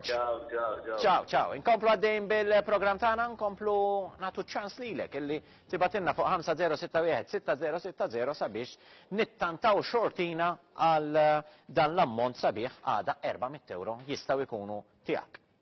Ciao, ciao, ciao. Ciao, ciao. Inkomplu għaddejn bil-program tagħna, nkomplu nagħtu ċans lilek illi tibatinna fuq 5061-6060 sabiex nittantaw xortina għal eh, dan l-ammont sabiħ għada 400 euro jistgħu jkunu tiegħek.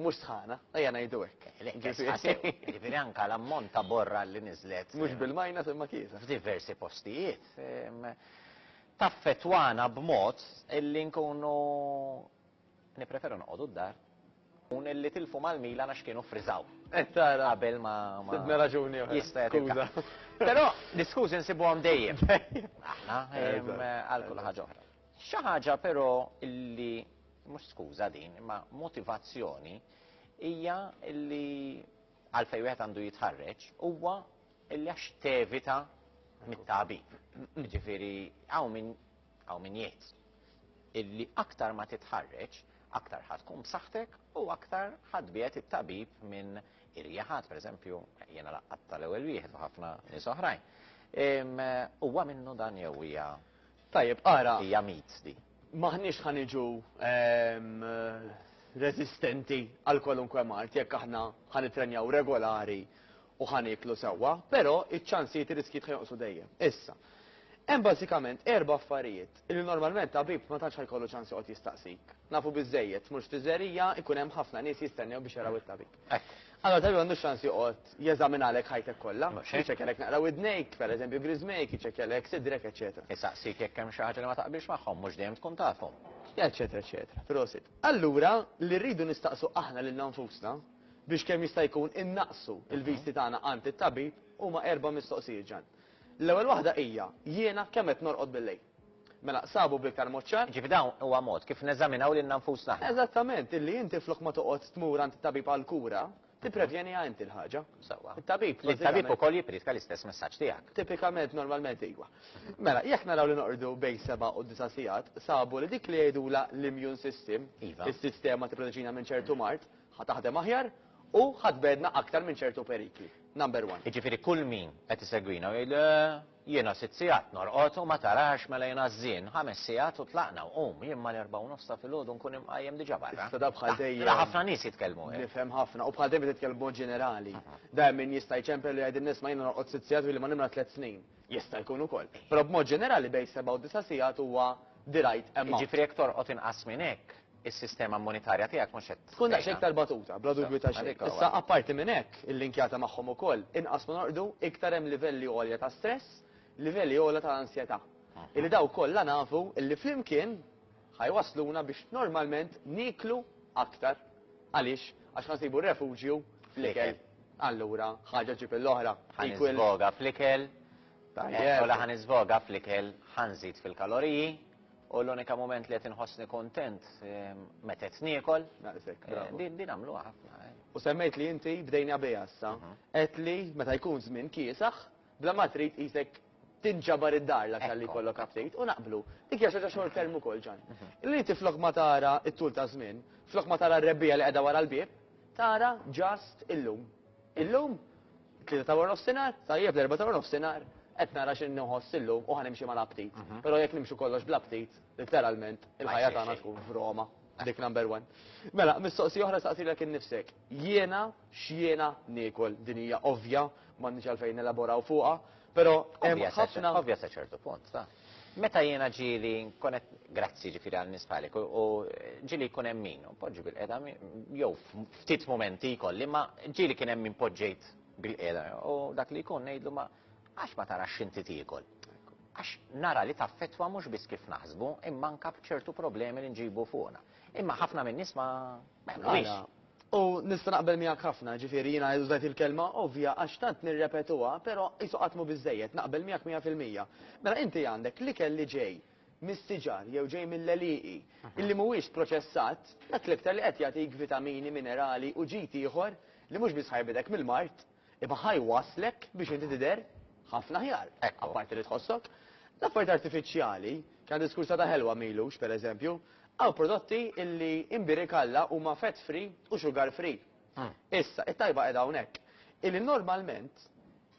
Mhux sħana, ejja ngħidu hekk. Le, kesħa sew. Jiġifieri anke l-ammont ta' borra li niżlet. Mhux bil-minus imma kiesa. F'diversi postijiet. Taffettwana b'mod illi nkunu nippreferu noqogħdu d-dar u li tilfu mal-Milan għax kienu ffriżaw. Qed tara. Qabel ma. Sibna raġuni oħra. Jista' jkun. Skuża. Però l-iskużi nsibuhom dejjem. Aħna għal kull ħaġa oħra. Xi ħaġa però li mhux skuża din, imma motivazzjoni hija li għalfejn wieħed għandu jitħarreġ huwa li għax tevita mit-tabib. Ġifieri hawn min hawn min jgħid illi aktar ma titħarreġ, aktar ħad tkun b'saħħtek u aktar ħad biet it-tabib minn irjaħat, pereżempju, jiena laqqat tal-ewwel wieħed u ħafna nies oħrajn. Huwa minnu dan jew hija Tajjeb, ara. Hija myths di. M'aħniex ħa niġu reżistenti għal kwalunkwe mard jekk aħna ħa nittrenjaw regolari u ħa nieklu sewwa, però iċ-ċansijiet ir-riskjijiet ħa jonqsu dejjem. Issa, hemm bażikament erba' affarijiet li normalment tabib ma tantx ħa jkollu ċans joqgħod jistaqsik. Nafu biżżejjed, tmurx fiżerija, ikun hemm ħafna nies jistennew biex jaraw it-tabib. Hekk. Allora tali għandu xans joqgħod jeżaminalek ħajtek kollha, jiċċekkjalek naqra widnejk, pereżempju griżmejk, jiċċekkjalek sidrek, eċetera. Isaqsik jekk hemm xi ħaġa li ma taqbilx magħhom, mhux dejjem tkun tafhom. Eċetera, eċetera. Prosit. Allura li rridu nistaqsu aħna lil nfusna biex kemm jista' jkun innaqsu l-visti tagħna għand it-tabib huma erba' mistoqsijiet ġan. L-ewwel waħda hija jiena kemm qed norqod bil-lejl? Mela, sabu b'iktar mod ċar. Jiġifieri dan huwa mod kif neżaminaw lilna nfusna aħna. Eżattament, illi inti flok ma toqgħod tmur għand it-tabib għall-kura, tipprevjeniha inti l-ħaġa. Sewwa. It-tabib. Li t-tabib ukoll jippriedka l-istess messaġġ tiegħek. Tipikament, normalment iva. Mela, jekk naraw li noqogħdu bejn seba' u disa' sigħat, sabu li dik li jgħidulha l-immune system, is-sistema tipproteġina minn ċertu mard, ħa taħdem aħjar u ħa tbegħdna aktar minn ċertu perikli. Number one. Jiġifieri kull min qed isegwina u jgħid le, Jiena sitt sigħat norqod u ma tarax mela jiena ż-żien, ħames sigħat u tlaqna u qum, jien mal-erbgħa u nofs ta' filgħodu nkun imqajjem diġà barra. Issa da bħal dejjem. Mela ħafna nies jitkellmu hekk. Nifhem ħafna u bħal dejjem qed titkellem b'mod ġenerali. Dejjem min jista' jċempel u jgħid nisma' jiena norqod sitt sigħat u ili ma nimla tliet snin. Jista' jkun ukoll. Però b'mod ġenerali bejn seba' u disa' sigħat huwa the right amount. Jiġifieri jekk torqod inqas minn hekk. is-sistema monetarja tiegħek mhux qed tkun daqs iktar batuta, bla dubju ta' xejn. Issa apparti minn hekk, il-linkjata magħhom ukoll, inqas ma norqdu, iktar hemm livelli għolja ta' stress, livelli għolja ta' ansjetà. Illi daw kollha nafu illi flimkien ħajwasluna biex normalment nieklu aktar. Għaliex? Għax ħansibu refuġju fl-ikel. Allura, ħaġa ġib l-oħra. Ħanisboga fl-ikel, ħanisboga fl-ikel, ħanżid fil-kaloriji, U l-unika moment li qed inħossni kontent ehm, meta qed niekol. Naqsek, eh, bravo. Din għamlu ħafna. Eh. U semmejt li inti bdejna bija issa, mhm. qed li meta jkun żmien kiesaħ, bla ma trid isek tinġabar id-dar l aktar li kollok update u naqblu. Dik hija xaġa xogħol termu kol ġan. Mhm. Li inti flok ma tara it-tul ta' żmien, flok ma tara r-rebbija li qiegħda wara l-bieb, tara just illum. Illum, tlieta ta' warnofsinhar, tajjeb l-erba' ta' warnofsinhar, qed nara xi nħoss illum u ħanimxi mal-aptit. Però jekk nimxu kollox bl-aptit, litteralment, il-ħajja tagħna tkun f'Roma, dik number one. Mela, mistoqsija oħra saqsilek innifsek, jiena x'jiena niekol? Din hija ovvja, m'għandniex għalfejn nelaboraw fuqha, però hemm ħafna. Ovvja sa ċertu punt, ta'. Meta jiena ġieli nkun qed grazzi jiġifieri għan-nies bħalik u u ġieli jkun hemm min u npoġġi bil-qiegħda mi- jew f- ftit mumenti jkolli imma ġieli kien hemm min poġġejt bil-qiegħda u dak li jkun ngħidlu ma għax ma tarax x'inti tiekol? Għax nara li taffettwa mhux biss kif naħsbu imma anke b'ċertu problemi li nġibu fuqna. Imma ħafna min-nies ma ma jagħmluhiex. U nista' naqbel miegħek ħafna, ġifieri jiena użajt il-kelma ovvja għax tant nirrepetuha, però qisu qatt mhu biżżejjed, naqbel miegħek mija fil-mija. Mela inti għandek l-ikel li ġej mis-siġar jew ġej mill-għelieqi, illi mhuwiex proċessat, dak l-iktar li qed jagħtik vitamini, minerali u ġid ieħor li mhux biss ħajbidek mill-mard, Imma ħa jwasslek biex inti tidher ħafna aħjar. Apparti li tħossok. L-affarijiet artifiċjali, kena diskursha ta' ħelwa m'ilux, per eżempju, hawn prodotti illi imbierik Alla huma fat free u sugar free. Issa, it-tajba qiegħda hawnhekk. Illi normalment,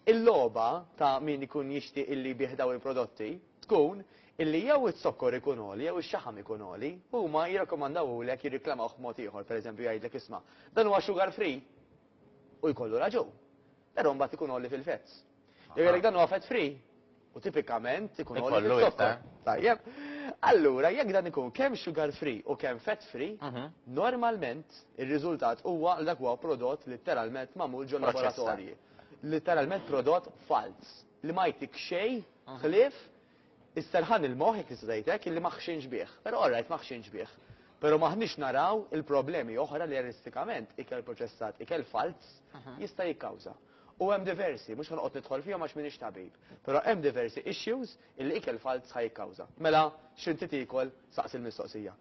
il-logħba ta' min ikun jixtieq illi jbigħ dawn il-prodotti, tkun illi jew iz-zokkor ikun għoli jew ix-xaħam ikun għoli, huma jirrakkomandawhulek jirriklamawh b'mod ieħor, per eżempju jgħidlek isma', dan huwa sugar free? U jkollu raġun. Però mbagħad ikun għoli fil-fats. Jekk għalhekk dan huwa fat free, u tipikament ikun għoli fil-zokkor. Tajjeb. Allura jekk dan ikun kemm sugar free u kemm fat free, mhm. normalment ir-riżultat huwa li dak huwa prodott litteralment magħmul ġol laboratorji. Litteralment prodott falz li ma jtik xejn mhm. ħlief Isserħan il-moħħ, jekk nista' ngħid hekk, illi ma ħxinx bih. Però orrajt ma ħxinx bih. Però m'aħniex naraw il-problemi oħra li realistikament ikel proċessat, ikel falz, jista' jikkawża. U hemm diversi, mhux ħanoqgħod nidħol fihom għax m'iniex tabib, però hemm diversi issues illi ikel falz ħa jikkawża. Mela, x'inti tiekol? Saqsi l-mistoqsija.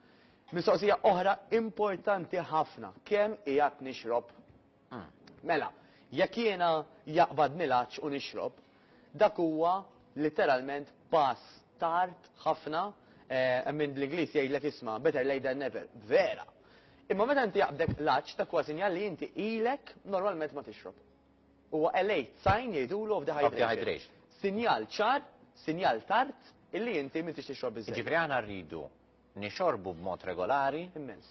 Mistoqsija oħra importanti ħafna, kemm qiegħed nixrob? Mela, jekk jiena jaqbad nilgħaġġ u nixrob, dak huwa litteralment pass tard ħafna, hemm min bl-Ingliż jgħidlek isma' better late than never, vera! Imma meta inti jaqbdek l-għatx dak huwa sinjal li inti ilek normalment ma tixrob. Huwa a late sign jgħidulu of dehydration. Sinjal ċar, sinjal tard illi inti m'intix tixrob biżżejjed. Jiġifieri aħna rridu nixorbu b'mod regolari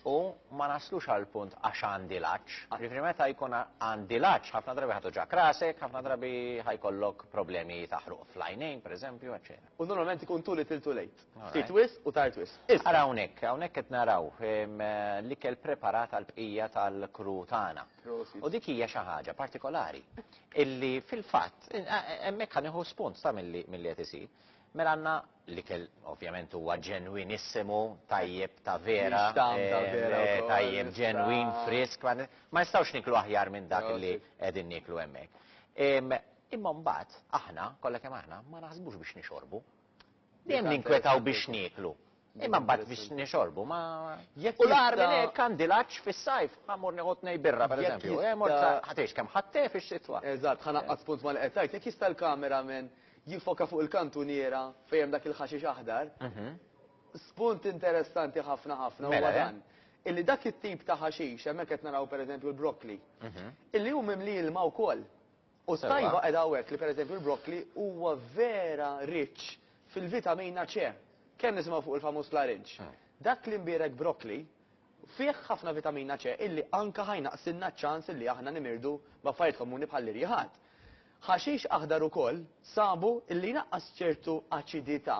u ma naslux għall-punt għax għandi l-għatx. Jiġifieri meta jkun għandi l-għatx ħafna drabi ħatoġak rasek, ħafna drabi ħajkollok problemi ta' ħruq fl-għajnejn, pereżempju, eċċetera. U normalment ikun too little too late. Ftit wisq u tard wisq. Issa. Ara hawnhekk, hawnhekk qed naraw l-ikel preparat għall-bqija tal-crew tagħna. U dik hija xi ħaġa partikolari illi fil-fatt hemmhekk ħa nieħu spunt ta' milli qed isir. Mela għandna L-ikel ovvjament huwa ġenwinissimu, tajjeb ta' vera. Mhix tagħm ta' eh, vera eh, wkoll, Tajjeb issa. ġenwin, frisk, ma ma nistgħux niklu aħjar minn dak li Prosit. qegħdin niklu hemmhekk. Em, Imma mbagħad aħna, kollha kemm aħna, ma naħsbux biex nixorbu. Dejjem Dik ninkwetaw biex interessanti. nieklu. Imma mbagħad biex Interessanti. nixorbu ma Jekk U l-għar minn jista- hekk għandi laċ fis-sajf, ma mur nieħu tnej birra Jekk pereżempju. jista- Eh, mort sa- ħatiex kemm ħattef ix-xitwa. Eżatt, ħanaqqas punt ma li qed tgħid. Jekk jista' l-kameraman jiffoka fuq il-kantuniera fejn hemm dak il-ħaxix aħdar. Spunt interessanti ħafna ħafna huwa dan, illi dak it-tip ta' ħaxix, hemmhekk qed naraw pereżempju l-broccoli, illi hu mimli ilma wkoll. U t-tajba qiegħda hawnhekk li pereżempju l-broccoli huwa vera rich fil-vitamina C. Kemm nisimgħu fuq il-famuż klarinġ. Dak l-imbierek broccoli fih ħafna vitamina C illi anke ħa jnaqqsilna ċ-ċans illi aħna nimirdu b'affarijiet komuni bħall-irjiħat. Ħaxix aħdar ukoll sabu illi jnaqqas ċertu aċidità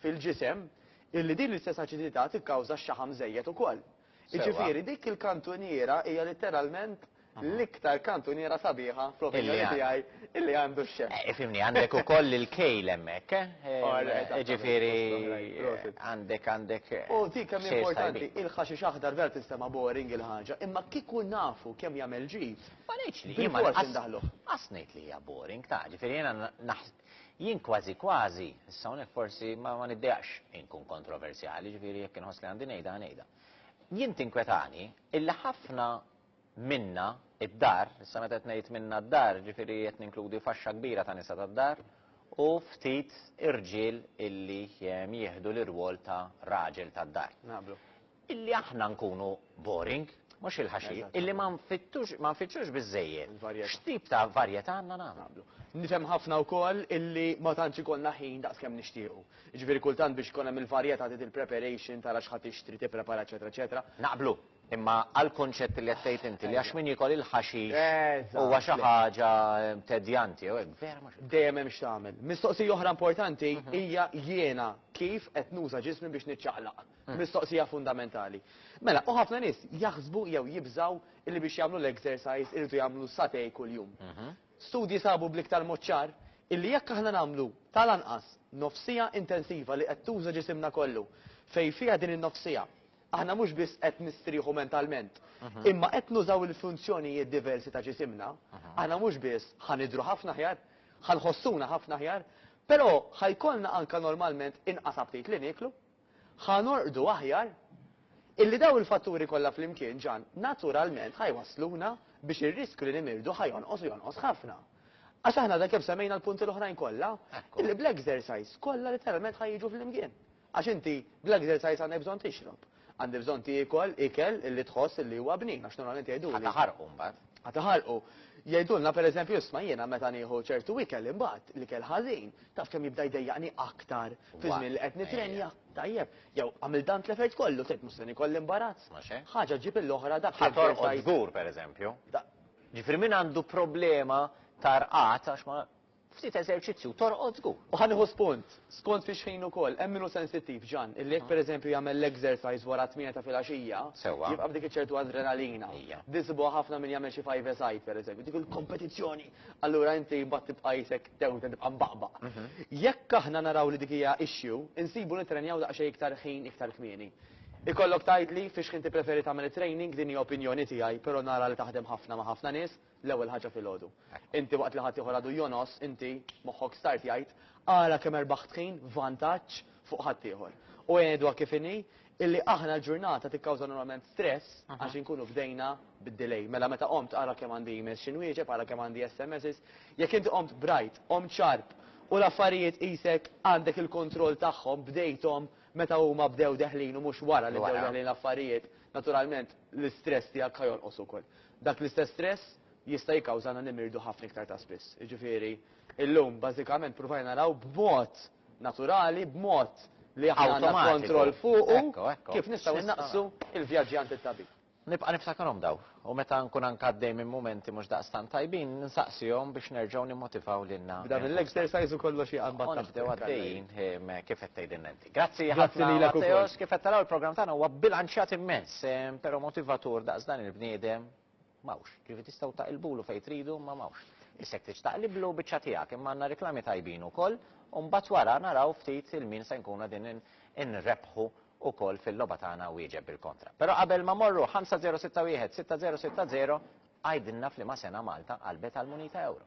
fil-ġisem illi din l-istess aċidità tikkawża x-xaħam żejjed ukoll. Jiġifieri dik il-kantuniera hija litteralment l-iktar kantuniera sabiħa fl-opinjoni tiegħi illi għandu x-xef. Ifhimni, għandek ukoll il-kejl hemmhekk, eh? Jiġifieri għandek għandek xejn tajbin. U dik kemm hi importanti, il-ħaxix aħdar vera tinstema' boring il-ħaġa, imma kieku nafu kemm jagħmel ġid, Ma ngħidx li. Bil-fors indaħluh. Qas ngħid li hija boring, ta' ġifieri jiena jien kważi kważi, issa hawnhekk forsi ma niddejaqx inkun kontroversjali, ġifieri jekk inħoss li għandi ngħidha ngħidha. Jien tinkwetani illi ħafna minna d-dar, issa meta qed ngħid minna d-dar ġifieri qed ninkludi faxxa kbira ta' nisa tad-dar u ftit irġiel illi jieħdu l-irwol ta' raġel tad-dar. Naqblu. Illi aħna nkunu boring, mhux il-ħaxix, illi ma nfittux ma nfittxux biżżejjed Il-varjetà. x'tip ta' varjetà għandna nagħmlu. nagħmlu. Nifhem ħafna wkoll illi ma tantx ikollna ħin daqs kemm nixtiequ. Jiġifieri kultant biex ikun hemm il-varjetà trid il-preparation, tara x'ħa tixtri, tipprepara eċetera eċetera. Naqblu, imma għall-kunċett li qed tgħid inti li għax min jiekol il-ħaxix Eżatt, huwa xi le. ħaġa tedjanti jew hekk, vera mhux hekk. Dejjem hemm x'tagħmel. Mistoqsija oħra importanti hija jiena kif qed nuża ġismi biex niċċaqlaq. Mistoqsija fundamentali. Mela, u ħafna nies jaħsbu jew jibżgħu li biex jagħmlu l-exercise iridu jagħmlu satej kuljum. Studji sabu bl-iktar mod ċar illi jekk aħna nagħmlu tal-anqas nofs siegħa intensiva li qed tuża ġisimna kollu, fejn fiha din in-nofs siegħa aħna mhux biss qed nistrieħu mentalment, imma qed nużaw il-funzjonijiet diversi ta' ġisimna, aħna mhux biss ħa nidhru ħafna aħjar, ħa nħossuna ħafna aħjar, però ħa jkollna anke normalment inqas aptit li nieklu. Ħa norqdu aħjar? Illi dawn il-fatturi kollha flimkien, Ġan, naturalment ħa jwassluna biex ir-riskju li nimirdu ħa jonqos u jonqos ħafna. Għax aħna għadna kemm semmejna l-punti l-oħrajn kollha, illi bl-exercise kollha literalment ħa jiġu flimkien. Għax inti bl-exercise għandek bżonn tixrob, għandek bżonn tiekol ikel illi tħoss illi huwa bnin għax normalment jgħiduli. Ħa taħarqu mbagħad. Ħa taħarqu. Jgħidulna pereżempju isma' jiena meta nieħu ċertu ikel imbagħad, l-ikel ħażin, Taf kemm jibda jdejjaqni aktar fi żmien li qed nitrenja? Tajjeb, jew għamilt dan tlefejt kollu, tgħid mhux se nikolli imbarazz. Mhux hekk? Ħaġa ġġib il-oħra dak li Ħa torqod żball. żgur, pereżempju. Da- Ġifieri min għandu problema ta' rqad għax ma ftit eżerċizzju torqod żgur. U ħa nieħu spunt, skont fi xħin ukoll, hemm min hu sensittiv, Ġan, illi jekk pereżempju jagħmel l-exercise wara t-tmienja ta' filgħaxija, Sewwa. jibqa' b'dik iċ-ċertu adrenalina. Ija. Din sibuha ħafna min jagħmel xi five-a-side pereżempju, dik il-kompetizzjoni allura inti mbagħad tibqa' qisek tew inti tibqa' mbaqbaq. Jekk aħna naraw li dik hija issue, insibu nittrenjaw daqsxejn iktar ħin iktar kmieni. Ikollok tgħidli fiex ħin tippreferi tagħmel it-training, din hija opinjoni tiegħi, però nara li taħdem ħafna ma' ħafna nies, l-ewwel ħaġa filgħodu. Inti waqt li ħaddieħor għadu jonos, inti, moħħok start jgħid, ara kemm erbaħt ħin, vantaġġ, fuq ħaddieħor. U għedha kif inhi, Illi aħna l-ġurnata tikkawża normalment stress għax inkunu bdejna bid-delay. Mela meta qomt ara kemm għandi emails xi nwieġeb, ara kemm għandi SMSs. Jekk inti qomt bright, qomt sharp u l-affarijiet qisek għandek il-kontroll tagħhom, bdejthom meta huma bdew deħlin u mhux wara li bdew deħlin l-affarijiet, naturalment l-istress tiegħek ħa jonqos ukoll. Dak l-istess stress jista' jikkawżana nimirdu ħafna iktar ta' spiss. Jiġifieri llum bażikament ppruvajna naraw b'mod naturali b'mod li aħna għandna Awtomatiku. kontroll fuqu, Ekku, ekku. kif nistgħu X'nista' nnaqqsu nagħmel? l-vjaġġi għand it-tabib? Nibqa' niftakarhom dawn, u meta nkun anke għaddej minn mumenti mhux daqstant tajbin, nsaqsihom biex nerġgħu nimmotivaw lilna. B'dan il-leg nfusna. exercise u kollox jaqanbad U taħt nibdew il-kalla għaddejjin jien. ehm, kif qed tgħidilna inti. Grazzi Grazzi ħafna lilek ukoll. Matteos, kif qed taraw il-programm tagħna huwa bbilanċjat immens, ehm, però motivatur daqs dan il-bniedem. M'hawnx. Jiġifieri tistgħu taqilbulu fejn tridu imma m'hawnx. Issek trid taqliblu biċċa tiegħek imma għandna riklami tajbin ukoll u mbagħad wara naraw ftit il-min se nkunu qegħdin inrebbħu ukoll fil-logħba tagħna wieġeb bil-kontra. Però qabel ma morru 5061 6060 għidilna f'liema sena Malta qalbet għall-munita ewro.